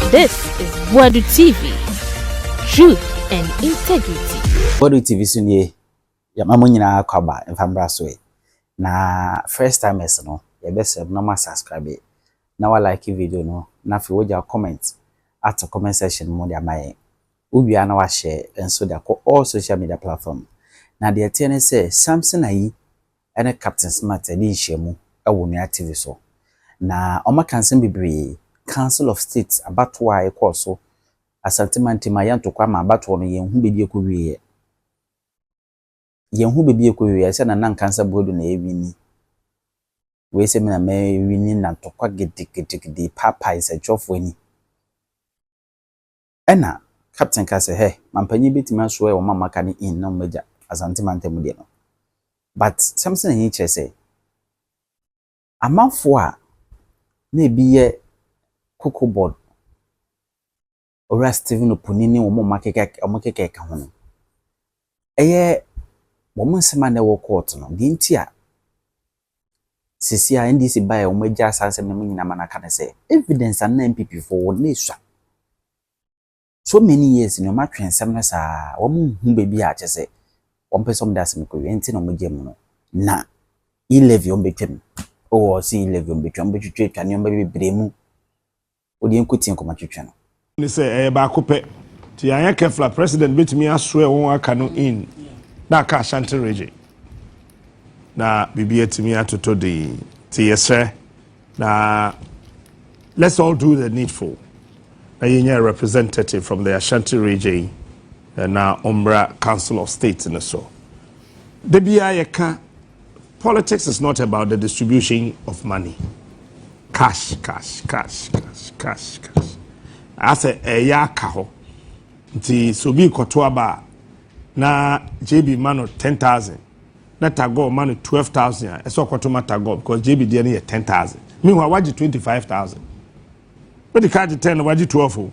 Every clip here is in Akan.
This is Boadu TV, truth and integrity. Boadu TV so nie, yɛma mo nyinaa kwaba mfa mbra so e. Na first timers no, yɛbɛsrɛ mo na mo subscribe na wa like video no na afei wagya comment ato comment section mu de ama yɛn. Wowie a na wahyɛ nso de akɔ all social media platform. Na deɛ ɛteɛ ne sɛ Samson Ayi ne Captain Smart adi nhyiamu wɔ Nua TV so, na wɔaka nsɛm bebree, Council of State abatoɔ a ɛkɔɔ so, Asante mantam a yɛnto kwan ma abatoɔ no, yɛnhu baabi a ɛkɔwieeɛ. Yɛnhu baabi a ɛkɔwieeɛ, ɛsɛ sɛ Nana nka sɛ Boadu na ɛrewini. Wei sɛ me na mɛwini na ntɔkwa gidigidigidi repaepae nsɛntwerɛfoɔ ani. Ɛna captain ka sɛ hɛ mampanyin bɛtumi asoɛ wɔn a moaka no in na wɔn agya Asante mantam mu deɛ no but something ani kyerɛ sɛ amanfoɔ a na ebi yɛ cocoa board owura Stephen Opuni ne wɔn a wɔakeka wɔn keka ɛka ho no Ɛyɛ wɔn nsɛm a na ɛwɔ court no deɛ nti a seesei a NDC baeɛ a wɔagyae saa nsɛm no mu nyinaa ma no aka ne sɛ evidence a na NPP foɔ wɔ no na ɛsua. So many years ni wɔatwe nsɛm no saa a wɔnhu baabi a kyɛ sɛ wɔmpɛ sɛ wɔde asɛm kɔ wie nti na wɔgya mu no. Na e-levy wɔbɛtwam, oh wɔse e-levy wɔbɛtwa, wɔbɛtwitwa atwa nneɛma bebree mu. Wo deɛ nko tie nkɔmɔ twetwe no. Ne sɛ ɛyɛ baako pɛ nti yɛanyɛ careful a president bɛtumi aswear wɔn aka no in na aka Ashanti region na biribi atumi atoto den nti yɛsrɛ na let's all do the needful na yɛnya a representative from the Ashanti region na ɔmmra council of state no so da biara yɛka Politics is not about the distribution of money. Cash, cash, cash, cash, cash, cash. Asɛ ɛyɛ eh, aka hɔ. Nti sɛ obi kɔto aba a na JB ma no ten thousand na Tagore ma no twelve thousand a ɛsɛ ɔkɔto ma Tagore because JB deɛ no yɛ ten thousand. Meanwhile wagye twenty five thousand. wode kaa gye ten na wagye twelve o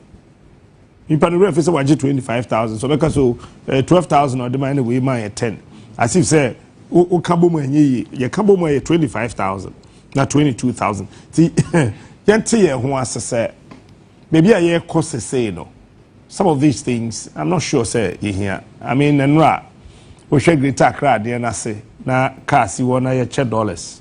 nipa no werɛ fi sɛ wagye twenty five thousand so ɔbɛka so eh, twelve thousand ɔde ma ɛna wei ma yɛ ten as if sɛ woka bɔ mu ɛnyɛ yie yɛka bɔ mu ɛyɛ twenty five thousand na twenty two thousand ti yɛnte yɛn ho ase sɛ baabi a yɛrekɔ sesei no some of these things i'm not sure sɛ yɛhia i mean nnora wohwɛ greater accra adeɛ no ase na kaa si hɔ na yɛkyɛ dollars.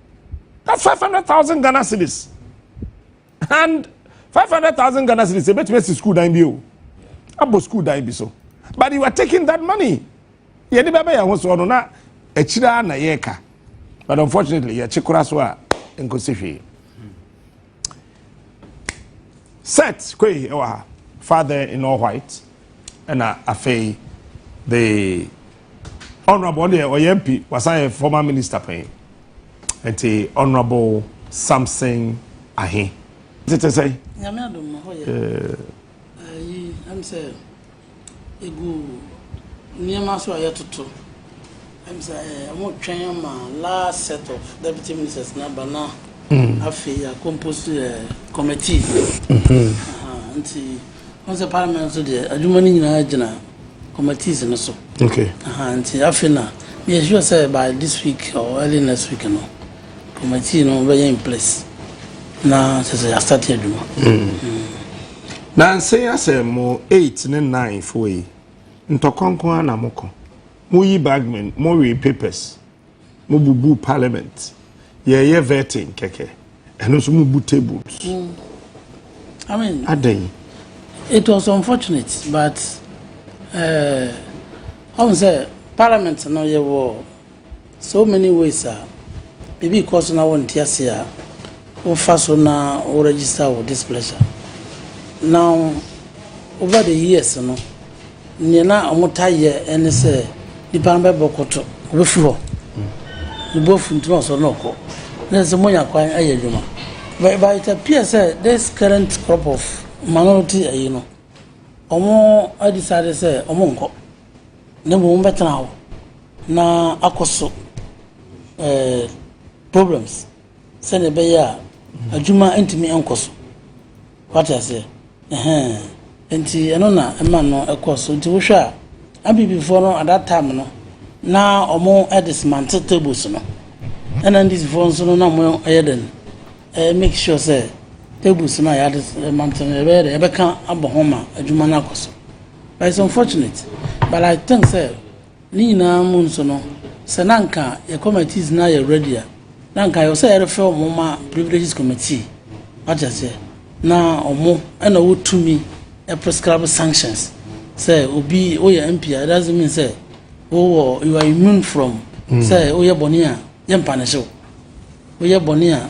na five hundred thousand ghana cedis and five hundred thousand ghana cedis ebetumi esi school dan bi o abɔ school dan bi so but you are taking that money yɛde bɛ bɛ yɛn ho soɔ no na akyire a na yɛreka but unfortunately yɛkye kora so a nkosi hwee. set koi ɛwɔ ha father in all white ɛna afei the honourable ɔno deɛ ɔyɛ mp wasan yɛ former minister pɛn nti honourable samson ahe tete sɛ. nyame adom hɔ yɛ ɛyi ɛm sɛ. Egu nneɛma so a yɛtoto. Ɛm sɛ ɛɛ wɔretwɛn ama last set of deputy ministers no aba na afei yɛakompose ɛɛ eh, committees. Aha, nti wɔn sɛ parliament nso deɛ adwuma no nyinaa gyina committees no so. Okay. Aha, nti afei na yɛsure sɛ by this week or early next week no. Committee no bɛyɛ in place na kyerɛ sɛ yɛastate adwuma. Nansa yi asɛ mo eight ne nine foɔ yi ntɔkwa nko ara na mokɔ. Moyi bagmen, mowee papers, mobubu parliament, yɛreyɛ vetting kɛkɛ, ɛno nso mobu tables. I mean, Adɛn? it was unfortunate but eh, ɔhu sɛ parliament no yɛwɔ So many ways a biribi rekɔ so na wonte ase a wofa so na wo register wo displeasure. Now over the years no nea na wɔtaa yɛ ɛne sɛ nipa no bɛbɔ kɔtɔ obefi hɔ ne bo afu nti na ɔsɔre na ɔkɔ na ɛsɛ sɛ monya kwan ayɛ adwuma but but it appears sɛ this current crop of minority ayi no wɔn decide sɛ wɔn nkɔ. na mmom wɔbɛtena hɔ na akɔ so eh, problems sɛdeɛ ɛbɛyɛ a adwuma ntumi nkɔ so wate aseɛ ɛhɛn nti ɛno na ɛma no ɛkɔ so nti wohwɛ a abibifoɔ no at that time no na wɔn ɛde smante tables no ɛna ndisifoɔ nso no na wɔn ɛyɛ dɛn ɛyɛ make sure sɛ tables no a yɛade mante no ɛbɛyɛ dɛ ɛbɛka abɔ ho ma adwuma no akɔ so But it's unfortunate but I think sɛ ne nyinaa mu nso no sɛ na nka yɛ committees na yɛ ready a na nka yɛwɔ sɛ yɛrefɛ wɔn ma privileges committee wate aseɛ na wɔn ɛna ɔwɔ tumi prescribe sanctions sɛ obi woyɛ MP a it doesn't mean sɛ wowɔ you are immune from sɛ woyɛ bɔne a yɛmpa ne hyew woyɛ bɔne a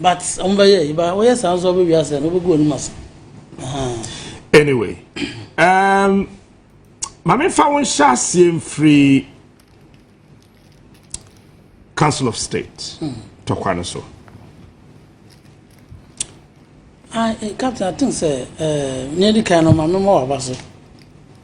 But ɔmo bɛ yɛ yiba ɔyɛ saa nso ɔbɛ wia sɛ na ɔbɛ gu ɔnum ase. Anyway, um, maame fa wɔn hyɛ aseɛ mfiri Council of State hmm. tɔkwa no so. I, eh, Captain, I think sɛ ɛɛ eh, nea edi kan no maame ma waba so.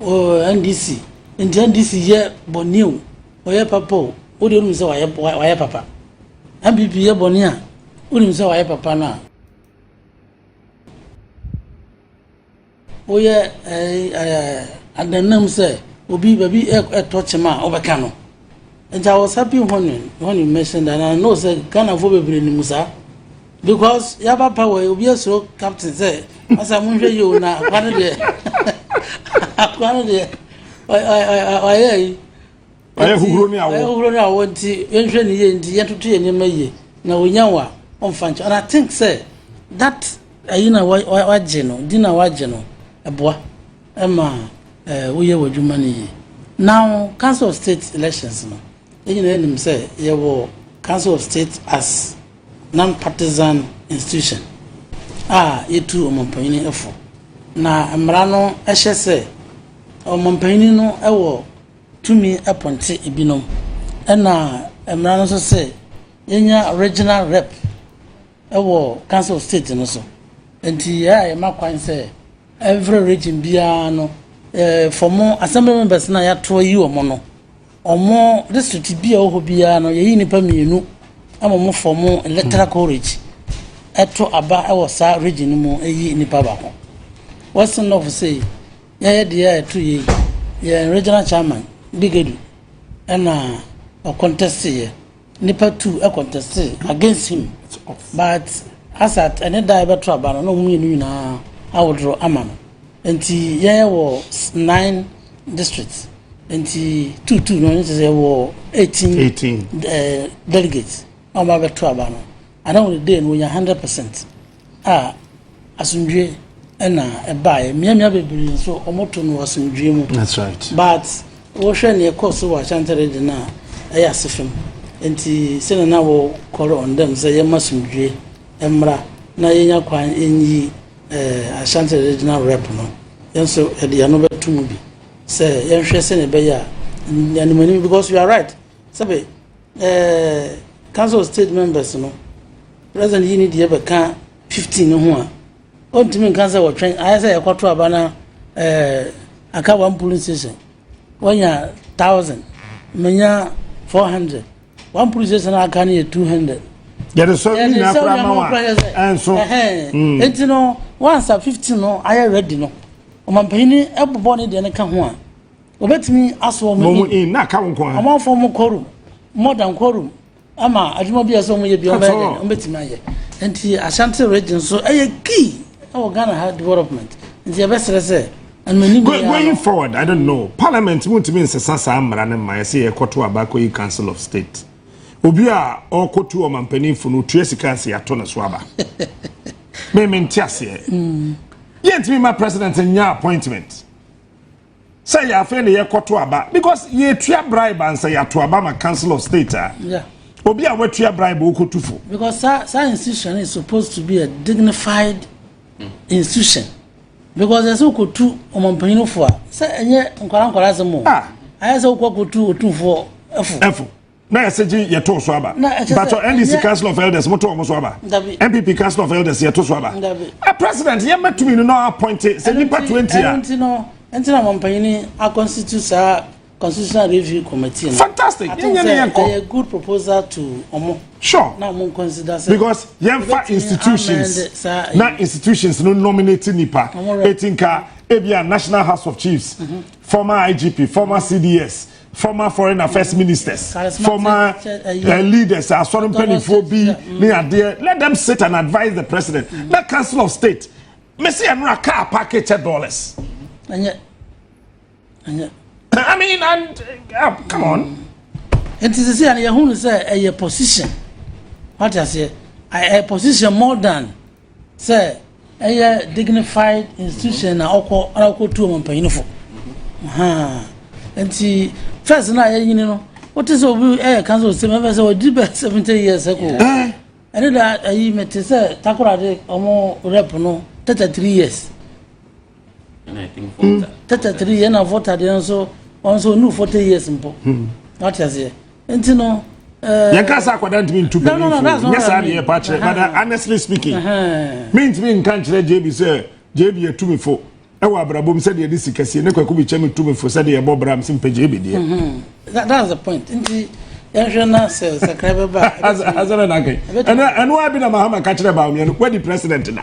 Ɔɔ NDC nti NDC yɛ bɔne o ɔyɛ papa o wo deɛ wonim sɛ wayɛ papa NPP yɛ bɔne a wonim sɛ wayɛ papa no a woyɛ ɛɛ adannam sɛ obi baabi ɛtɔ kyema a wobɛka no. Agya Osabi hɔn hɔn mmɛhyɛ da na know sɛ Ghanafoɔ bebree nim saa because yaba pa wɔ obi asuro captain sɛ ɔsɛ mo nhwɛ yie o na akwa no deɛ akwa no deɛ ɔyɛ yi ɔyɛ huhuro ne awɔ ɔyɛ huhuro ne awɔ nti yɛnhwɛ ne yie nti yɛntoto yɛ nneɛma yie na onya wa ɔnfa nkyɛn and I think sɛ that ayi na wagye no di na wagye no ɛboa. ma woyɛ w'adwuma no yie. Now council of state elections no yɛn nyinaa yɛnim sɛ yɛwɔ council of state as non partisan institution a yɛtu ɔmampanyini fo na mmara no hyɛ sɛ ɔmampanyini no wɔ tumi pɔnte ebinom ɛna mmara no nso sɛ yɛnya regional rep wɔ council of state no so nti yɛ a yɛma kwan sɛ Every region biara no for mo assembly members na yɛato ayi wɔn no wɔn district bi a wɔwɔ biara no yɛyi nipa mmienu ama wɔn for mo electoral college ɛto aba ɛwɔ saa region no mu ɛyi nipa baako western north sei yɛyɛ deɛ a ɛto yɛ yɛn regional chairman bigedu ɛna ɔcontest yɛ Nipa two conteste against him but as at ɛne da a yɛbɛto aba no na wɔn mmienu nyinaa awodoro ama no nti yɛyɛ wɔ nine district nti two two no ɛne sɛ yɛwɔ eighteen eighteen ɛɛ eh, delegates a wɔn abɛto aba no. Ana wɔn dee no wɔnya hundred percent a asomdwie na ɛbaeɛ mmeammea bebree nso wɔn to no wɔ asomdwie mu that's right but wɔhwɛ nea ɛkɔ so wɔ Ashanti region no a ɛyɛ ase fam nti sɛnea na wɔ call on them sɛ yɛma asomdwie mmra na yɛnya kwan nyi eh, Ashanti regional rep no yɛn nso yɛde yɛn ano bɛto mu bi sɛ yɛnhwɛ sɛnea ɛbɛyɛ a nyanim anim because you are right sɛbe Ɛɛ Council of State members no, President yi ne deɛ bɛka 15 no ho a, ɔntumi nka sɛ wɔtwɛn, ayɛ sɛ yɛkɔto aba na ɛɛ aka one polling station, wɔanya 1000, manya 400, one polling station a aka no yɛ 200. yɛde sɔ ne nyinaa koraa ma wa ɛnso hmm. nti no wansa 15 no ayɛ ready no ɔmampanin bobɔ ne deɛ no ka ho a Wɔbɛtumi asɔ wɔn in. Wɔn in na aka wɔn nko ara. Wɔn afɔ wɔn quorum more than quorum ama adwuma bi a ɛsɛ wɔn yɛ bi wɔn bɛyɛ dɛ wɔn bɛtumi ayɛ. Nti Ashanti region so ɛyɛ key ɛwɔ Ghana ha development nti yɛbɛsrɛ sɛ anumani bi yɛ ano. Going forward I don't know parliament mu ntumi nsesa saa mmara no ma yɛsɛ yɛkɔto aba akɔyi council of state obi a ɔkɔtu ɔmampaninfo no tua sika nsi ato ne so aba meme nte aseɛ mm. yɛntumi ma president nyɛ appointment. sɛ yɛ afei na yɛkɔto aba because yɛtua bribe ansa yɛato aba ma council of state a yeah. obi a watua bribe wokɔtu fo because saa sa institution is supposed to be a dignified mm. institution because ɛsɛ wokɔtu ɔmampanyini fo a sɛ ɛnyɛ nkwara nkwara asɛm o ah. ayɛ sɛ wokɔ akɔtu ɔtumfoɔ ɛfo na yɛsɛ gye yɛto so aba mpatɔ ndc council of elders moto wɔn so aba npp council of elders yɛto so aba a president yɛn mɛtumi no na appointe sɛ nipa twenty a. ɛnti no ɛnti na mampanyini akɔnstitute saa constitutional review committee no. fantastic yɛn nyɛ ne yɛn kɔ. ɛyɛ good proposal to ɔmo. sure na ɔmo consider sɛ. because yɛn fa institutions na institutions no nominate nipa eti nka ebi a national house of chiefs mm -hmm. former igp former mm -hmm. cds former foreign affairs ministers former uh, leaders asɔre mpanimfoɔ bi ne adeɛ let them sit and advise the president mm-hmm. na council of state mesi ɛnura car parking kyɛ dollars. ɛnyɛ ɛnyɛ. i mean and uh, come on. Mm-hmm. nti sisi yɛn yɛn hu sɛ ɛyɛ position wate aseɛ ɛyɛ position more than. Sɛ ɛyɛ dignified institution na ɔkɔ na ɔkɔ tu ɔmampanyinfo nti first na yɛ nyini no wote sɛ obi ɛyɛ kansa osem ɛfɛ sɛ ɔdi bɛ seventy years ɛkɔ eh. ɛne da ayi mete sɛ takorade ɔmo rep no thirty three years Hmm, tɛtɛ tiri yɛn na fɔta deɛ nso wɔn nso onu forty years mpo hmm. wate aseɛ nti no. Eh, yɛn kasa akwadaa ntumi ntu bɛn nsuo nyɛ saa deɛ ɛpa kyerɛ but honestly speaking mi ntumi nka nkyerɛ jb sɛ jb yɛ tumi fo ɛwɔ abrabom sɛdeɛ ɛde sika sie ne kwaku bi kyɛ mi tumi fo sɛdeɛ ɛbɔ bram si mpɛ jb deɛ. Hmm, that's the point nti yɛhwɛ na sɛ sakra bɛba. asɛrɛ na kɛ ɛnu ɛnu abi na mahama kakyerɛ baawu yɛn no wadi president na.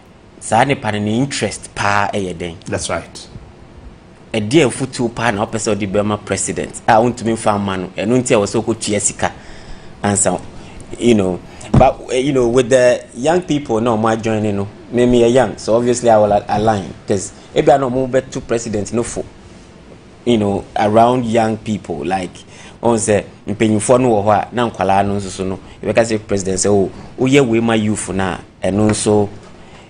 saa nipa no ne interest paa yɛ dɛn. That's right. Ɛdeɛ afutuo paa na ɔpɛ sɛ ɔde bɛma president a ɔntumi nfa mma no ɛno nti a wɔ sɛ ɔkɔtua sika ansa you know but eh, you know with the young people na wɔn adjoin no me me yɛ young so obviously I will align because ebi a na wɔn bɛto president no fo you know around young people like ɔn sɛ mpanyinfoɔ no wɔ hɔ a na nkwadaa no nso so no yɛbɛka sɛ president sɛ o woyɛ wei ma youth no a ɛno nso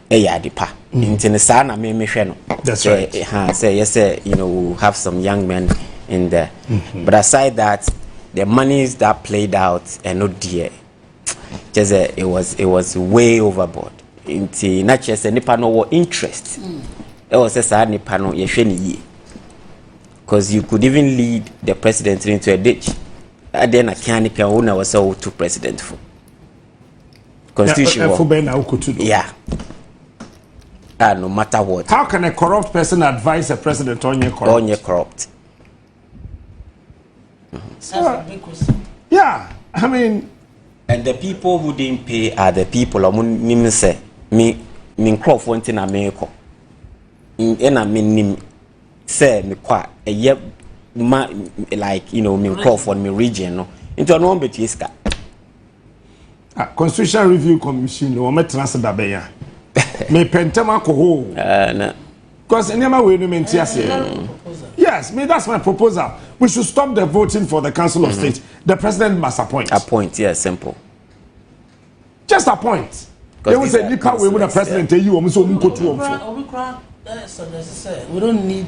ɛyɛ ade pa mm. nti no saa na me mehwɛ no sɛ ha sɛ yɛ sɛ you know we have some young men in there mm -hmm. but aside that the monies that played out ɛno deɛ kyerɛ sɛ it was it was way overboard nti na kyerɛ sɛ nipa no wɔ interest mm. ɛwɔ sɛ saa nipa no yɛhwɛ ne yie because you could even lead the president into a ditch adeɛ na kia ne pia wo na wɔ sɛ wotu president fo constitution wɔ ɛfo bɛn na wokotu do yeah ah no matter what how can a corrupt person advise a president ɔnyɛ corrupt ɔnyɛ corrupt yeah i mean and the people who didn't pay are the people ɔmo nim sɛ me me nkorɔfoɔ nti na meekɔ ɛna me nim sɛ mekɔ a ɛyɛ ma like you know me nkorɔfoɔ no me region no nti ɔno wɔn bɛtua sika. Ah, Constitution Review Commission no wɔmɛtena ase da bɛn a mepɛ ntɛm akɔ hɔ o. Ah, na. Because nneɛma wei no mente aseɛ. Mm. Yes, me that's my proposal. We should stop the voting for the Council mm -hmm. of mm-hmm. State. The president must appoint. Appoint, yeah, simple. Just appoint. They will say nipa wei mu na president eyi wɔn so wɔn nkotu wɔn fo. We don't need.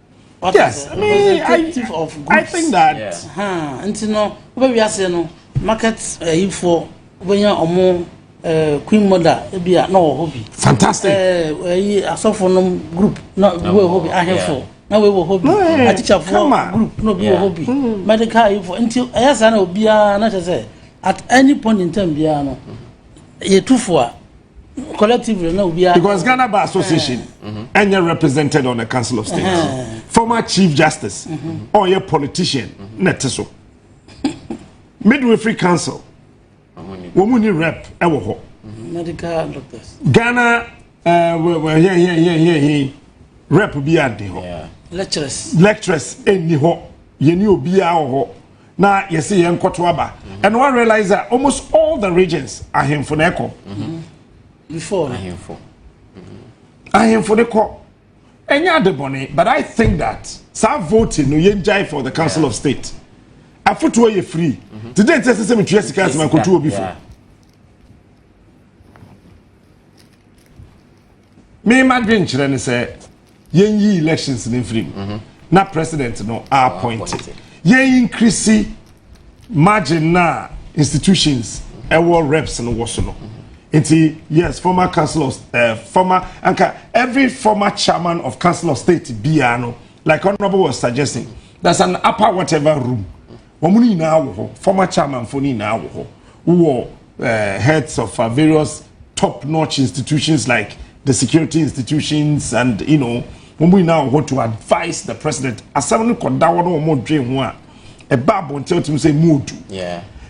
What yes, I mean, I, I think that. Yeah. Huh. And you know, where we are saying, no, market uh, eh, for when you're a more uh, queen mother, it be a no hobby. Fantastic. Uh, eh, I saw for no group, not no, hobby, I have for. na wei wɔ hɔ bi atikyafoɔ group na obi wɔ hɔ bi hmm. medical ayifoɔ nti ɛyɛ saa na obiara na kyerɛ sɛ at any point in time biara no yɛtu fo a collectively na obiara. because ghana bar association ɛnyɛ eh. mm-hmm. represented on the council of state eh. former chief justice ɔyɛ mm-hmm. oh, yeah, politician mm-hmm. na ɛte so midwifery council wɔn mu ni rep ɛwɔ hɔ. medical doctors. ghana yɛyɛyɛyɛyɛ eh, rep bi a di hɔ. lecturers. lecturers ɛni hɔ yɛn ni obiara wɔ hɔ. na yɛsi yɛn nkɔto aba ɛna wa realize that almost all the regions ahemfo na ɛkɔ. before ahemfo. ahemfo de kɔ ɛnyɛ ade bɔnne but i think that saa voting no yɛn gyae for the council of state afotuo yɛ free ti de nti ɛsɛ sɛ metua sika asɛm akotu obi fo. mema dwenkyerɛ ne sɛ yɛn yi elections ne mfiri mu mm -hmm. na president no a appoint yɛn increase margin na institutions ɛwɔ mm -hmm. reps no wɔ so no mm-hmm. nti yes former council of uh, former anka every former chairman of council of state biara no like honourable was suggesting there's an upper whatever room wɔn nyinaa wɔ hɔ former chairman fo nyinaa wɔ hɔ wɔ. uh, heads of uh, various top-notch institutions like the security institutions and you know wɔn nyinaa wɔ to advise the president asɛm no kɔ da wɔn a wɔn dwen ho a ɛba abɔnten o ti mi sɛ emu odu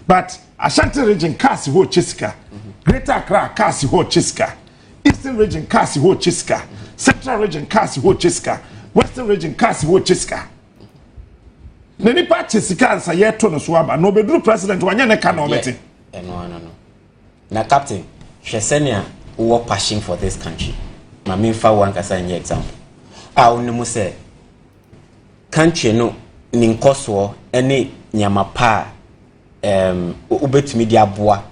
but ashanti region cars hɔ ɔkyɛ sika greater accra cars hɔ ɔkyɛ sika eastern region cars hɔ ɔkyɛ sika central region cars hɔ ɔkyɛ sika western region cars hɔ ɔkyɛ sika. na nipa kye sika ansa yɛto no so aba na ɔbɛduru president wanyɛ ne ka na ɔbɛte ɛno ano no na captain hwɛ sɛnea wowɔ passion for this country ma memfa wo ankasa nyɛ example a wonim sɛ country no ne nkɔsoɔ ne nneɛma pa a um, wobɛtumi de aboa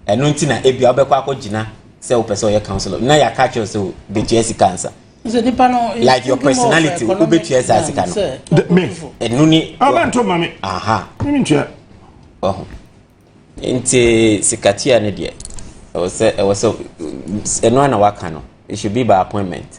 ɛno nti na ebia wobɛkɔ akɔgyina sɛ wopɛ sɛ ɔyɛ counselor na yɛaka kyerɛ sɛ bɛtua sika ansa like your personality wobɛtua saa sika no ɛno ni ɔho nti sikatua no deɛ ɛwɔ sɛ ɛwɔ sɛ ɛno a na waka no it should be by appointment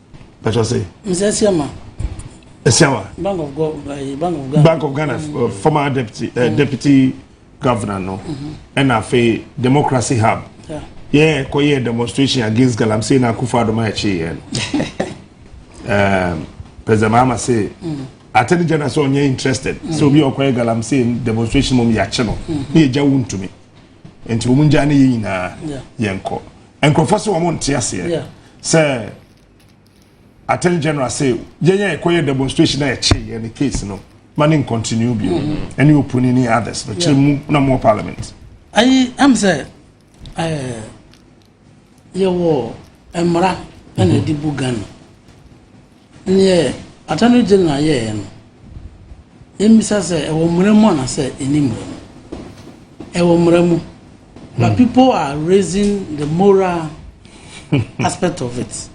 bàtà sẹ. nsẹ siama. siama. bank of go eh, bank of ghana. bank of ghana mm. uh, former deputy uh, mm. deputy governor no ɛna mm-hmm. afei democracy hub yɛ kɔ yɛ demonstration against galamsey na akufo adoma ɛkyi yɛ no um, president mahama say mm. attorney general sɛ ɔnyɛ interested mm. sɛ obi ɔkɔ yɛ galamsey demonstration mu yɛ akyi no ne yɛ gya wo ntumi nti wɔn gya ne yɛ nyinaa yɛn kɔ. nkurɔfoɔ sɛ wɔn nte aseɛ sɛ attorney general sɛ yɛn yɛ ɛkɔyɛ demonstration na yɛkye yɛn ne case no ma ne nkontinu bio mm-hmm. ɛne oponi ne others no kyerɛ mu na mo parliament. ayi am sɛ ɛɛ eh, yɛwɔ mmara ɛna ɛde bu ghana. Neɛ Attorney General yɛeɛ no, yɛmmisa sɛ ɛwɔ mmara mu anaasɛ ɛnni mmara mu? Ɛwɔ mmara mu, but people are raising the moral aspect of it.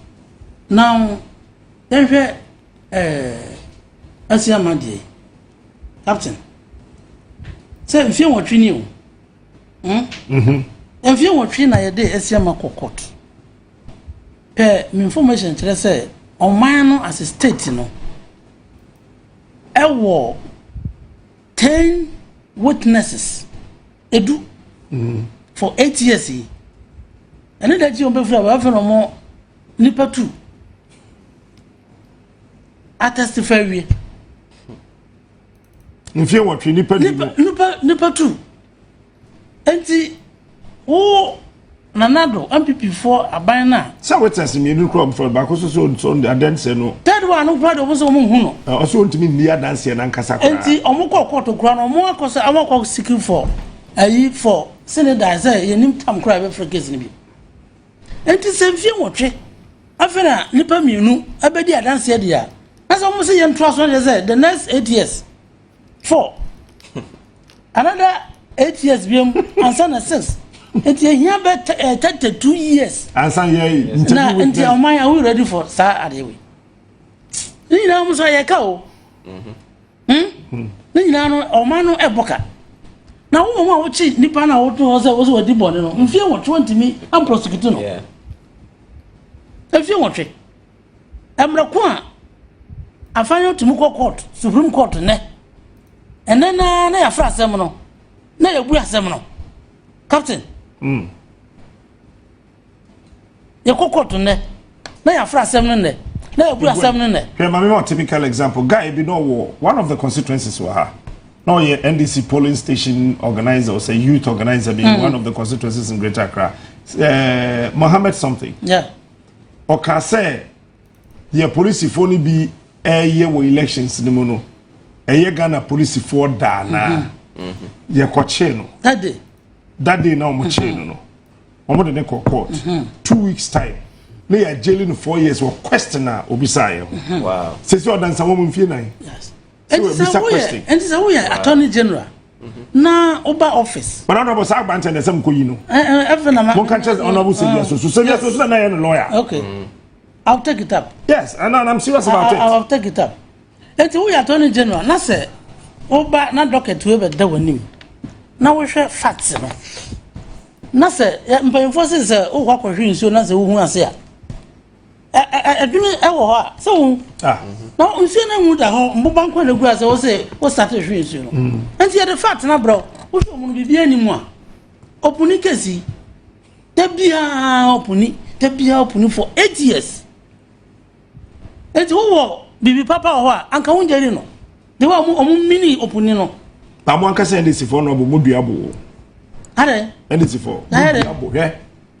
Now, yɛnhwɛ eh, Asiama deɛ yi, Captain, sɛ mfie nwɔtwe ni o, hmm? mfie nwɔtwe na yɛde Asiama kɔ court. pɛ me information kyerɛ sɛ ɔman no as a state no ɛwɔ ten witnesses edu for eight years yi ɛne da akyi wɔn bɛfiri a wɔafɛ na wɔn nipa tu atɛstifɛ wie mfie wɔtwe nipa nipa nipa nipa tu. Enti wo Nana Addo, NPP foɔ aban no a. Sɛ witness mmienu kura wɔn fɛn baako so so nso adanseɛ no. Third one no kura de wɔn sɛ wɔn nhu no. Ɔsɛ wɔn ntumi nni adanseɛ nankasa koraa. Enti wɔn kɔ kɔɔto kura no wɔn akɔ sɛ wɔn akɔ seeking for ayi for sini dan sɛ yɛn nim tam kura yɛbɛ fɛ case no bi. Enti sɛ nfie nwɔtwe afei na nipa mmienu ɛbɛ di adanseɛ deɛ a na sɛ wɔn sɛ yɛn to aso na sɛ the next eight years. four another eight years bi mu ansa na six nti ehia bɛ eh, thirty two years. ansa yɛ nkyɛn na nti ɔman yɛ awo ready for saa adeɛ wei ne nyinaa mo sɔ yɛ ka o mhm. hmm? hmm. ne nyinaa no ɔman no ɛbɔ ka na wɔn mu a wɔkyi nipa na wɔto hɔ sɛ wɔsɛ wɔdi bɔnne no mfie wɔtwe wɔntumi amprosecute no mfie wɔtwe. Mbrɛ ko a afã yi tum kɔ court, Supreme Court nnɛ, ndɛ no ara na yɛafrɛ asɛm no na yebue asɛm no. Captain. Mm. Yɛkɔ court nnɛ na yɛafrɛ asɛm no nnɛ na yebue asɛm no nnɛ. Hwɛ maame ma typical example guy bi na ɔwɔ one of the constituencies wɔ ha na ɔyɛ NDC polling station organizer ɔsɛ youth organizer bi mm. one of the constituencies in Greater Accra uh, Mohammed something. Yeah. Ɔkaa sɛ deɛ polisifoɔ no bi ɛreyɛ wɔ elections no mu no, ɛyɛ Ghana polisifoɔ daa naa mm-hmm. mm-hmm. yɛkɔkyee no. That day. That day na wɔn kyee no no, mm-hmm. wɔn de ne kɔ court. Two weeks time ne yɛ jailing no four years wɔ question a obisa yɛ ho. Sisi ɔdansa wɔn mfie nan. Ɛnti sɛ woyɛ ɛnti sɛ woyɛ attorney general. na woba office. But honorable saa agbankyɛ na ɛsɛ mokɔ yi no. ɛfɛ na ma. mo nka kyɛ honorable sɛ wiase so sɛ wiase so na yɛ no lawyer. okay mm. I'll take it up. yes and I'm serious about it. I'll take it up. eti wo yɛ attorney general na sɛ woba na docket wo bɛ da wɔn anim na wohwɛ facts no na sɛ mpanyinfoɔ sɛ sɛ wokɔ akɔhwe nsuo na sɛ wohu ase a. Ɛ ɛ ɛ ɛdwene ɛwɔ hɔ a sɛ wo ah. na nsuo no ngu da hɔ mboba nko na gu ase wo se wo sate hwe nsuo no mm. nti yɛde fa atena brɛ wo hwɛ ɔmo no biribi ani mu a ɔpuni kesi da biara ɔpuni da biara ɔpuni for eight years nti wowɔ biribi papa wɔ hɔ a anka wo ngyeri no de wa ɔmo ɔmo mini ɔpuni no. na mo ankasa ndc fo no ɔmo mo dua bo. adɛ ndc fo mo dua bo hwɛ.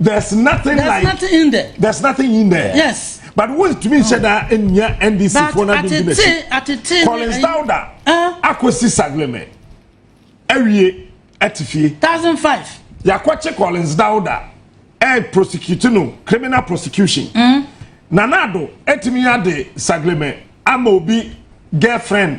there's nothing there's like nothing in there there's nothing in there yes but wọ́n tún mi n ṣe da ẹ̀yà ndc fún náà dundun n'akyi collins dauda akosi sagleme ẹ̀wíye ẹ̀tì fie thousand five yakọ̀kye collins dauda ẹ̀ prosecute no criminal prosecution mm. nanado ẹ̀tìmí adé sagleme ama obi girlfriend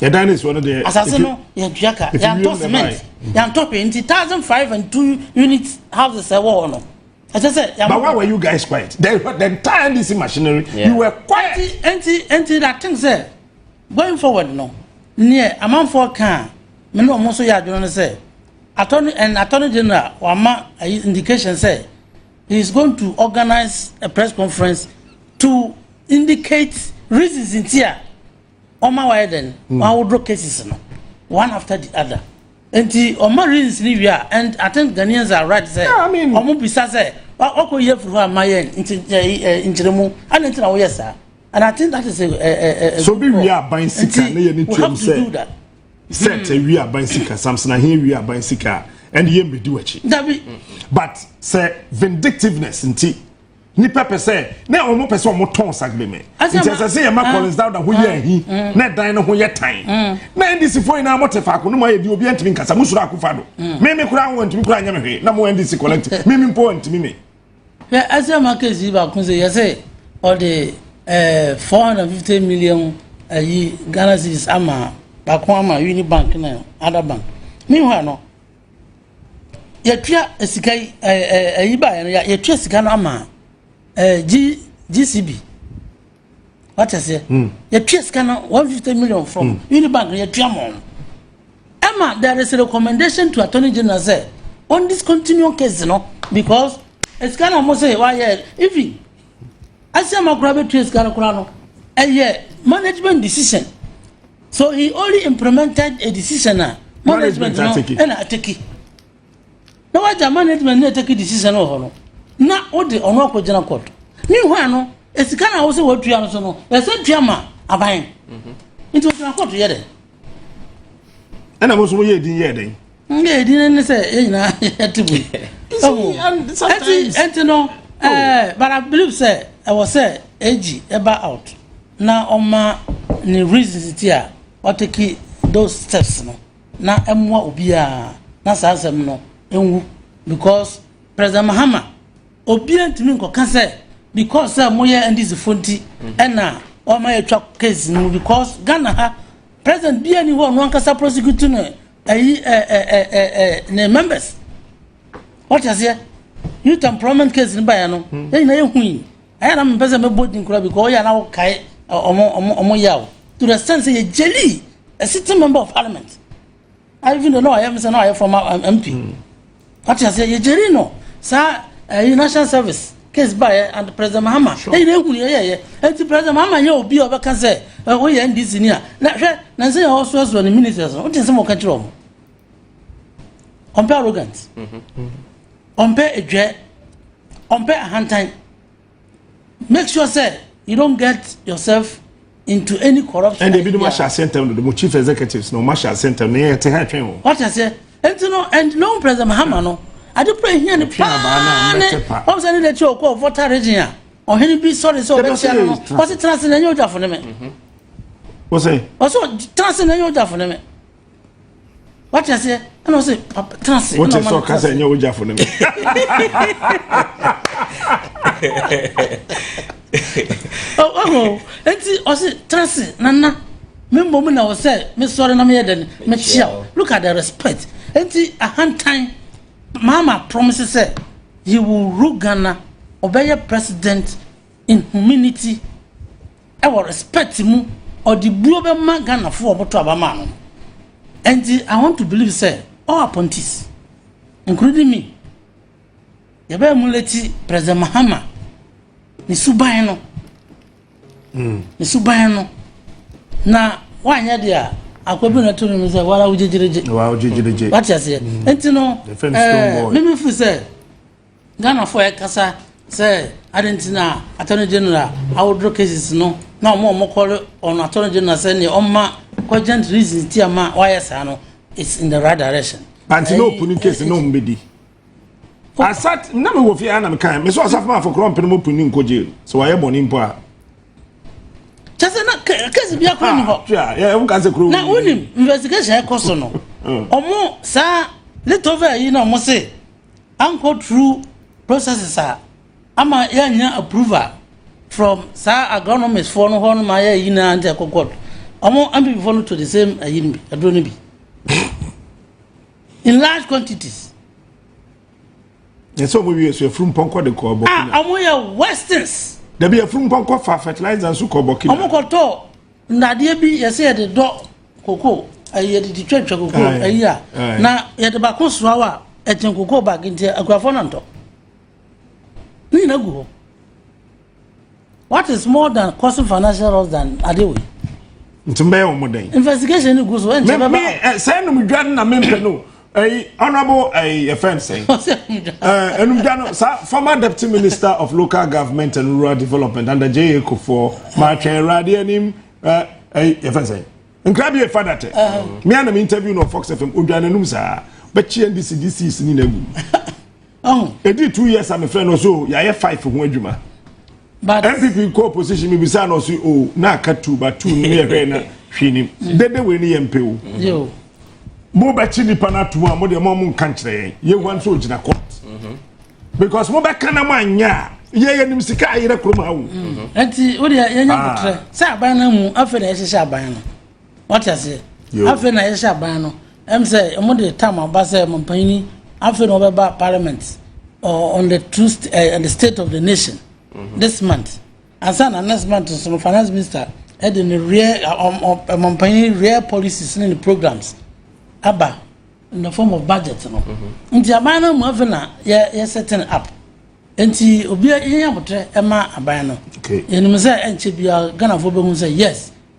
yɛdan ne soɔ no deɛ asase no yɛtua ka yɛantɔ cement yɛantɔ hwee nti thousand five and two unit houses ɛwɔ hɔ no ɛsɛ sɛ yɛn. but why were you guys quiet the the entire ndc machinery yeah. you were quiet. nti nti nti i think sɛ going forward no neɛ amanfoɔ kan me ne wɔn nso yɛ adwene no sɛ attorney and attorney general wama ayi indication sɛ he is going to organise a press conference to indicate reasons nti a. ɔma wayɛ dɛn hmm. wawodo cases no one after the other nti ɔma reasons ni wie a and i think ghanaians are right sɛ ɔmo bisa sɛ wakɔ yi afiri hɔ a ma yɛ nti nkyerɛmu ana nti na woyɛ saa and i think that is a a a. so bi wie aban sika ne yɛ ne tiam sɛ set ewie aban sika samson ahe ewie aban sika ɛne yɛ mbedi w'akyi. dabi but sɛ vindictiveness nti. nipa pɛ sɛ na wɔn pɛ sɛ wɔn tɔn sagbeme nti ɛsɛ sɛ yɛn ma collins dawda ho yɛ ahi na ɛdan no ho yɛ tan na ndc fo nyinaa mo te faako no mo ayɛ di obi ntumi nkasa mo soro akofa do mímí kura wɔn ntumi kura nyɛ mi hwee na mo ndc collect mímí mpo wɔn ntumi mi. hwɛ ɛsɛ ma kesi baako sɛ yɛsɛ ɔde ɛɛ four hundred fifty million ayi ghana cedis ama baako ama unibank na ada bank meanwhile no. Yɛatua sika yi ɛɛ ɛɛ ɛyi baeɛ no yɛatua sika no ama ɛɛ G GCB wate aseɛ hmm. yɛtua sika no one fifty million from hmm. Unibank no yɛtua ma wɔn ɛma there is a recommendation to attorney general sɛ on discontinue case no because sika na wɔn sɛ wɔayɛ even asɛm akora bɛtua sika no koraa no ɛyɛ management decision. So he only implemented a decision a management no ɛna ateki na wagya management no ateki decision wɔ hɔ no na wode ɔno akɔgyina court meanwhile no esika na wosɛ wɔtua no so no ɛsɛ tua ma aban mhm. nti wɔgyina court yɛ dɛ ɛna mo nso mo yɛ edin yɛ dɛ nga edin no ne sɛ yɛ nyinaa yɛte bu ɛti ɛti no ɛɛ but i believe sɛ ɛwɔ sɛ ag ɛba out na ɔma ne reasons nti a wa take those steps no na ɛmoa obiaa na saa asɛm no nwu because President Mahama obiaa ntumi nkɔka sɛ because sɛ moyɛ NDC fo nti ɛna ɔma yɛtwa case no mu because Ghana ha president biaa ni hɔ ɔno ankasa prosecute no ɛyi ɛɛ ne members wɔte aseɛ youth employment case no baeɛ no yɛnyina yɛhui Ɛyɛ a na mempɛ sɛ mɛbɔ din koraa because ɔyɛ a na wokae ɔmo yaw to the extent sɛ yɛgyelii a sitting member of parliament even though na ɔyɛ me sɛ na ɔyɛ former mp wate aseɛ yɛgyelii no saa ɛyi national service case baeɛ and president mahama ɛyi na ehunu yɛyɛyɛ ɛnti president mahama nyɛ obi a ɔbɛka sɛ woyɛ ndc ni a na hwɛ na nsɛ yɛ ɔsoasoa ne ministers no wote nsɛm ɔka kyerɛ ɔmo compare arrogant mm-hmm. ɔmpɛ adwuɛ ɔmpɛ ahantan make sure sɛ you don't get yourself into any corrupt. ɛnna ebinom ahyɛ aseɛ ntɛm dodo mo chief executives na wɔn ahyɛ aseɛ ntɛm na yɛn ti ha twɛn wɔn. wɔte aseɛ nti no and loan president mahama no ade kura ehia ne paa ne wɔn sɛ ne de kyerɛ ɔkɔ voter region a ɔhene bi sɔre sɛ ɔbɛkyia no no wɔte tena ase na ɛnyɛ ɔgyafo ne mɛ. wɔsɛ. wɔsɛ tena ase na ɛnyɛ ɔgyafo ne mɛ. wate aseɛ ɛna ɔsɛ papa tena ase wote sɛ ɔka sɛ ɛnyɛ wogyafo no ɔho enti ɔse tena ase nana me mmom na wɔ sɛ mesɔre na meyɛ dɛn mekyea wo look at the respect enti ahantan maama promise sɛ he will rule ghana ɔbɛyɛ president in humility wɔ respect mu ɔde buo bɛma Ghana foɔ a ɔmo to aba maa no no ɛnti I want to believe sɛ all appointees including me yɛbɛ emulate President Mahama ne suban no mm. ne suban no na wanyɛ deɛ a akwa bi na to ne mu sɛ wala wo gyegyeregye wala wo gyegyeregye wate aseɛ mm. ɛnti no ɛɛ eh, mimi firi sɛ Ghanafoɔ ɛkasa sɛ adɛn nti na attorney general awodro cases no na wɔn a wɔn kɔle wɔn attorney general sɛ neɛ ɔma cogent reasons ti ama wayɛ saa no it's in the right direction. Panti na opuni case na wɔn bedi. Asat na mi wɔ fie ana mi kan mi so asafo ma afɔkorɔ mpene mo puni nkɔ jail sɛ wayɛ bɔnni mpo a. Kyɛ sɛ na case bi akora ni hɔ. Ah, yɛ ɛmu kan sɛ kuro. Na wunim investigation ɛkɔ so no, wɔn saa little over yi na wɔn se. ankɔ through processes a ama yɛanya approval from saa agronomist foɔ no hɔ no ma yɛ yi na nkyɛ kɔkɔ ɔmo npp foɔ no to the same ayi no bi aduro no bi in large quantities. yɛsɛ ɔmo wie so efuru mpɔnkɔ de kɔ ɔbɔ kenya. a ɔmo yɛ westerns. dabi efuru mpɔnkɔ fa fertilizer nso kɔ ɔbɔ kenya. ɔmo kɔ tɔ. Nnadeɛ bi yɛ sɛ yɛde dɔ koko ɛyi eh, yɛde di twɛtwɛ koko ɛyi a na yɛde baako soa wa ɛkyɛn koko bag nti akurafoɔ na ntɔ ne nyina gu hɔ what is more than causing financial loss than adeɛ wei nti mbɛyɛ wɔn dɛn investigation ni gu so ɛnkyɛ bɛba sɛ ɛnum dwa na mempɛ no ɛyi honourable ɛyi yɛfɛ nsɛn ɛɛ enumdwa no saa former deputy minister of local government and rural development under J.A. Kufuor maatwɛn awurade anim ɛɛ ɛyi yɛfɛ nsɛn nkrabie fada tɛ mmea na mi interview no fox fm odwa n'anum saa bɛkyi ndc dc sini na egu. Oh. Edi two years a mefrɛ no so yɛayɛ five ho adwuma. But NPP kɔ opposition mi bisa na ɔsi o oh, na aka two ba two no yɛ hwɛ na hwɛ nim. Mm. Dede wei ni yɛ mpe o. Yo. Mo bɛ kyi nipa na atum a mo deɛ mo mo nka nkyerɛ yɛn. Yɛ wan so gyina court. Mm-hmm. Because mo bɛ kan na mo anya yɛ yɛ nim sika ayerɛ kurom ha o. Ɛti mm-hmm. o deɛ yɛ nya ah. kutrɛ sɛ aban na mu afɛ na yɛ hyehyɛ aban no. Wate aseɛ? Yo. Afei na yɛhyɛ aban no. Ɛm sɛ ɔmo de tam aba sɛ mampanyini afei na ɔbɛba parliament uh, on the true st uh, on the state of the nation mm -hmm. this month. Ansa na next month nso no finance minister ɛde ne real mampanyini real policies ne ne programs aba in the form of budget no. Mm-hmm. Nti aban no mu afei na yɛ yɛ setting up. Nti obi yɛn abotire ɛma aban no. Yɛnum sɛ ɛnkyɛ biara Ghanafoɔ bɛhu sɛ yes.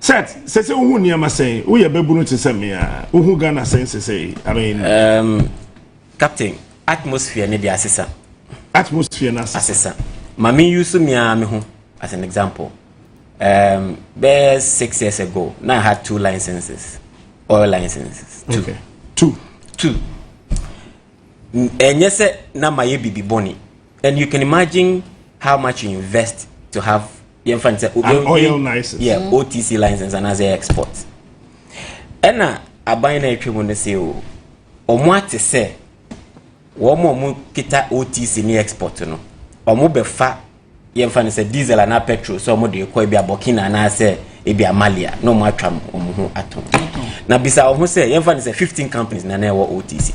Seth, sese wohu nneɛma sɛn? Woyɛ babunu te sɛ me a, wohu Ghana sɛn sese? I mean. Um, Captain, atmosphere ne de asesa. Atmosphere na asesa. Asesa. Ma me use me a me ho as an example. Um, bɛyɛ six years ago, na I had two licenses, oil licenses. Two. Okay. Two. Two. Ɛnyɛ sɛ na ma yɛ bibi bɔne. and you can imagine how much you invest to have yɛn fɛn sɛ an oil license yeah mm. otc license and as a export ɛna aban na atwa mu no sɛ o wɔn ate sɛ wɔn a wɔn kita otc ne export no wɔn bɛfa yɛn fɛn sɛ diesel anaa petrol sɛ wɔn de kɔ ebi abɔkina anaasɛ ebi amalia na wɔn atwa wɔn ho ato na bisa wɔn ho sɛ yɛn fɛn sɛ fifteen companies na na ɛwɔ otc.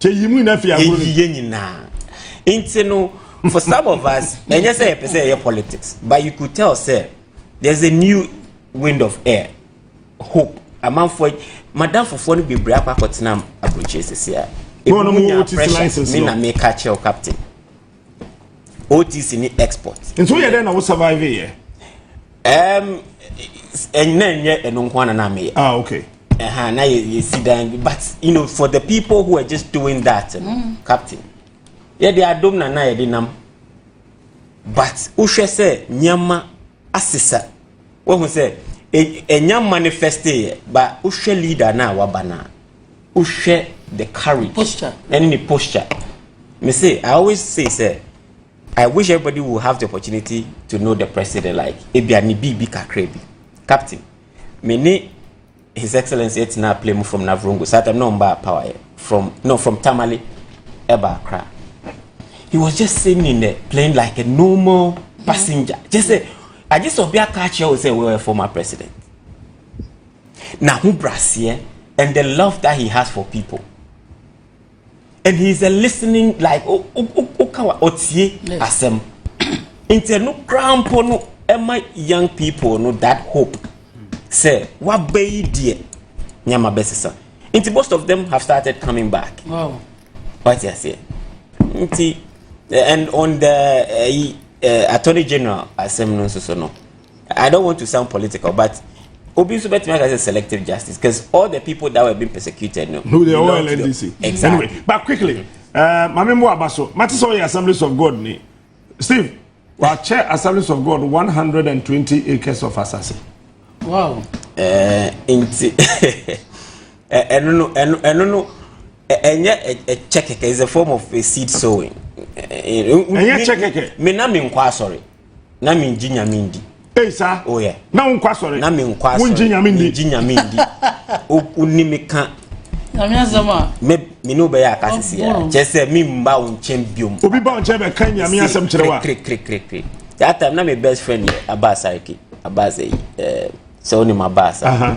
Yɛyi mu nyinaa fi agorɔ no. Yɛyi yɛn nyinaa. Nti no, for some of us, ɛnyɛ sɛ yɛpɛ sɛ yɛyɛ politics, but you could tell sɛ there's a new wind of air, hope. Amanfoɔ, madamfofoɔ no bebree akɔ akɔtena aburokyire sisi a. Ebi mu nya pressure, me na meka kyerɛ wo captain. otc ne export. nti woyɛ dɛ na wo survive yɛ. ɛɛm ɛnna nyɛ ɛno nko ara na mi yɛ. ah okay. ɛhan na yɛ yɛ si dan but you know for the people who are just doing that no mm. captain yɛ de adom na na yɛ de nam but wohwɛ sɛ nneɛma asesa wɔhu sɛ ɛnya e, manifeste yɛ ba wohwɛ leader na waba na wohwɛ the courage posture. ɛne ne posture me say i always say sɛ i wish everybody will have the opportunity to know the president like ebi a ne biribi kakra bi captain me ne his excellence ɛtena play mu from navrongo saa tam na ɔn ba power yɛ from no from tamale ɛba akra he was just sitting in the plane like a normal passenger just say agye sɛ ɔbi aka akyerɛ wo sɛ wɔyɛ former president n'ahobraseɛ and the love that he has for people and he is a listening like o o o o ka wa ɔtie asɛm nti ɛno koraa mpo no ɛma young people no that hope sɛ waba yi deɛ nneɛma bɛsesa nti most of them have started coming back wate aseɛ nti eh, and on the uh, uh, attorney general asɛm no nso so no I don't want to sound political, but Obi nso bɛtumi aka sɛ selective justice because all the people that were being persecuted no. no they all LNDC. exactly anyway, but quickly uh, maame mu aba so mate sɛ ɔyɛ assemblies of God ni Steve wakyɛ assemblies of God one hundred and twenty acres of asase. wow. ɛɛ nti ɛno no ɛno ɛno no ɛnyɛ ɛkyɛ kɛkɛ it's a form of a seed sowing. ɛnyɛ kyɛ kɛkɛ. mi na mi nkɔ asɔre. na mi ngye nyame ndi. eyi saa o oh, yɛ na wo nkɔ asɔre na mi nkɔ asɔre wo ngye nyame ndi ngye nyame ndi o o ni mi ka. nyame asɛm a. me me ne wobɛyɛ aka sisi a kyɛ sɛ mi mba wo nkyɛn biom. obi ba wo nkyɛn bɛ kan nyame asɛm kyerɛ wa. kiri kiri kiri kiri that time na mi best friend yɛ abaasa eke abaasa yi ɛɛ sɛ o ni ma baasa.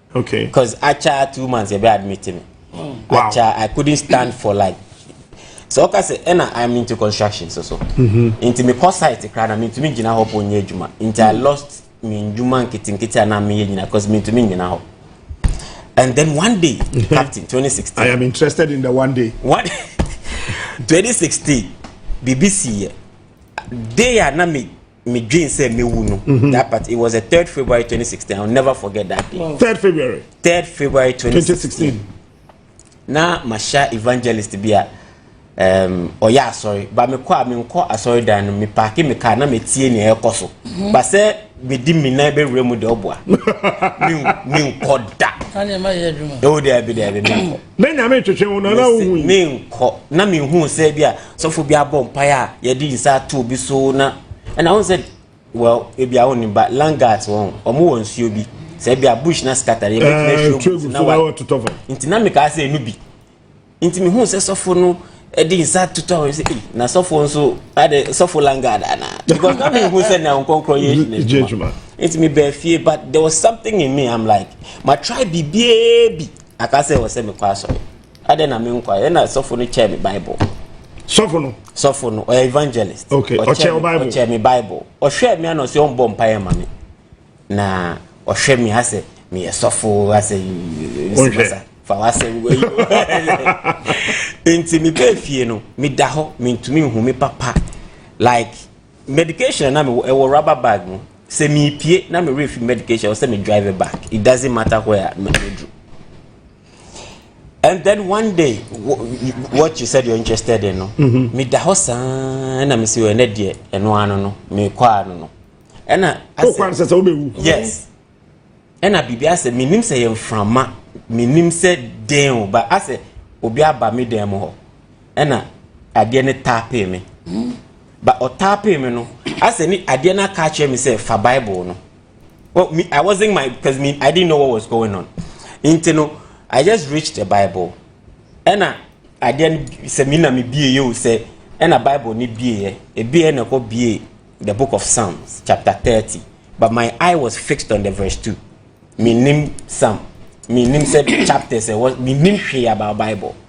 Okay. Cause acha two months yɛbɛ admit me. Wow. Acha I couldn't stand for like so ɔka sɛ ɛna I'm into construction so so. Mm-hmm. Nti me kɔ site kra na mentumi gyina hɔ po nyɛ adwuma. Nti I mm. lost me ndwuma nketenkete a na meyɛ nyina cause mentumi nyina hɔ. And then one day, mm-hmm. Captain, 2016. I am interested in the one day. One, 2016, BBC, day a na me me dream say me wu no mm-hmm. that part it was the third february 2016 i'll never forget that day wow. third february third february 2016, 2016. na masha evangelist bi a um, ɔyɛ asɔre ba mekɔ a menkɔ asɔre dan no mepaake me kaa na metie nea ɛkɔ so mm-hmm. ba sɛ medi me nan bɛwura mu deɛ ɔboa menkɔ da ɛwo daabi daabi menkɔ na nyame twetwe wo no na wohu menkɔ na menhu sɛ bi a sɔfo bi abɔ mpaeɛ a yɛde nsa ato obi so na ɛna wɔn sɛ well ebi a wɔn ba langat wɔn wɔn wɔ nsuo bi sɛ ebi a bush na scatter yɛ bɛtumi ahwɛ obi na wa nti na mi kaa sɛ enu bi nti mi hu sɛ sɔfo no ɛde nsa toto awon sɛ ee na sɔfo nso ade sɔfo langat ana because na mi hu sɛ na nkɔnkɔn yɛ edwuma nti mi bɛɛ fie but there was something in me i'm like ma try biribiara bi aka sɛ wɔ sɛ mi kɔ asɔre. Adɛn na me nkwa? Ɛna sɔfo no kyɛɛ me Bible. Sɔfo no? Sɔfo no, ɔyɛ evangelist. Okay, ɔkyɛɛ Bible. Ɔkyɛɛ me Bible. Ɔhwɛɛ me ana ɔsɛ ɔmbɔ mpaeɛ ma me. Na ɔhwɛ me asɛ meyɛ sɔfo asɛ nsibasa fa wasɛ nti mebɛɛ fie no meda hɔ mentumi nhu me papa like medication na mewɔ ɛwɔ rubber bag mu sɛ mepie na merefi medication ɔsɛ me drive back it doesn't matter where me do and then one day wɔkye sɛ deɛ interested no mhm. meda hɔ saa na mesi wɔ ɛnɛ deɛ ɛno ano no mekɔ ano no ɛna asɛ sɛ sɛ wobɛwu yes ɛna biribi asɛ menim sɛ yɛ mframa menim sɛ den o ba asɛ obi aba me dan mu hɔ ɛna adeɛ no taapee me ba ɔtaapee me no asɛ ne adeɛ no aka akyerɛ me sɛ fa bible no Well, me, I wasn't my because me I didn't know what was going on. Nti no, I just reached the Bible. Ɛna adeɛ no sɛ me na me bie yɛ o sɛ ɛna Bible ne bie yɛ ebi yɛ na ɛkɔ bie the book of Psalms chapter thirty but my eye was fixed on the verse two. Me nim Psalm, me nim sɛ chapters ɛwɔ, me nim hwee about Bible.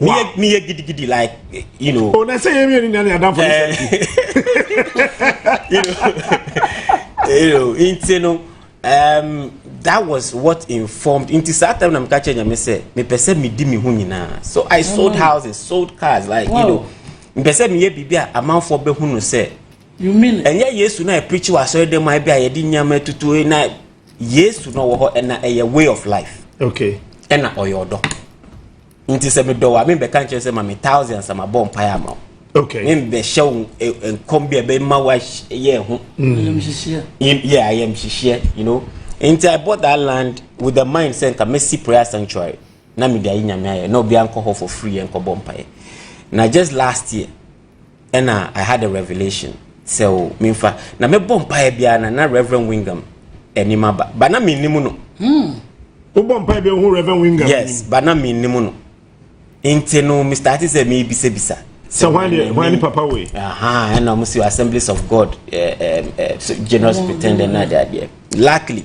Wow. Me, me giddy giddy like you know. Oh, na say you mean nani adam for this. You know, you know, into no. Um, that was what informed nti saa time na meka kyerɛ nyame sɛ mepɛ sɛ medi me ho nyinaa so i sold houses sold cars like wow. you know mepɛ sɛ meyɛ biribi a amanfoɔ bɛhu no sɛ ɛnyɛ yesu na ɛpreachi wɔ asɔre dɛm a bi a yɛde nneɛma atutu eh, na yesu na ɔwɔ hɔ ɛna ɛyɛ way of life okay ɛna ɔyɛ ɔdɔ nti sɛ medɔ wo a membɛka nkyerɛ sɛ ma me thousand ansa mabɔ mpaeɛ ama wo okay membɛhyɛ wo nkɔm bi a ɛbɛma woayɛ ho yɛ ayamhyehyeɛ you know nti i bought that land with the mind sɛ nka mɛsi prayer sanctuary na mede ayi nyame ayɛ na obiara nkɔ hɔ for free yɛ nkɔbɔ mpaeɛ na just last year ɛna I had a revelation sɛ o memfa na mebɔ mpaeɛ biara na na Reverend Wingham anim aba ba na mennim no hmm. wobɔ mpaeɛ biara hu Reverend Wingham yes ba na mennim no nti no Mr. Ate sɛ mebisabisa sɛ hwan ne papa wei ɛna ɔmo si Assemblies of God eh, eh, eh, so generous pretender na adeadeɛ luckily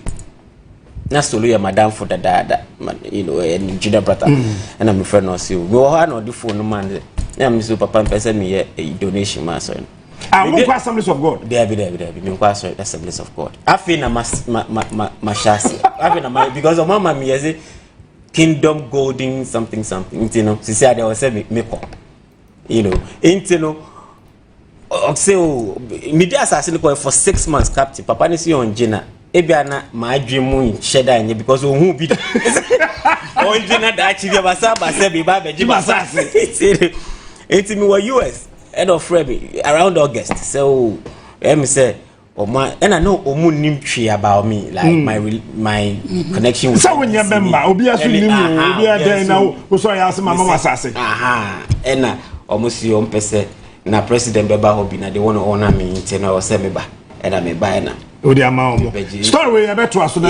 na solo yɛ madamfo dadaada ma you know ɛyɛ ne gyina brata ɛna mi fɛ na ɔsi o mi wɔ hɔ a na ɔde fon no ma ne ɛna mi so papa mpɛ sɛ mi yɛ eyi donation ma asɔre no. a mo nkɔ assemblies of god. dɛbi dɛbi dɛbi mi nkɔ asɔre assemblies of god afei na ma ma ma ma ma hyɛ ase afei na ma because ɔmo ama mi yɛ se kingdom golden something something nti no sisi adeɛ ɔsɛ mi mi kɔ you know nti no. Ɔse o, medi asase no kɔɛ for six months captain, papa no se ɔngye na ebia na m'adwen mu nhyɛ da nyɛ because ɔhu bi da. Ɔngye na daakye bi abasa abasa bi ba abɛgye m'asase. Nti mewɔ US ɛna ɔfrɛ me around August sɛ o, ɛyɛ me sɛ Ọmọ ẹna no ọmọ nim twi about me like mm. my my mm-hmm. connection with. Sẹ wo nyẹ bẹ mma obi aso nim o obi adẹn na o sọ ya ase mama wa sase. Ẹna ọmọ si ọmọ pẹsẹ na president bẹ ba hɔ bi na de wọn ọna mi nti na ọsẹ mi ba ẹna mi ba ẹna. O de ama ọmọ story wey ẹ bẹ to aso na.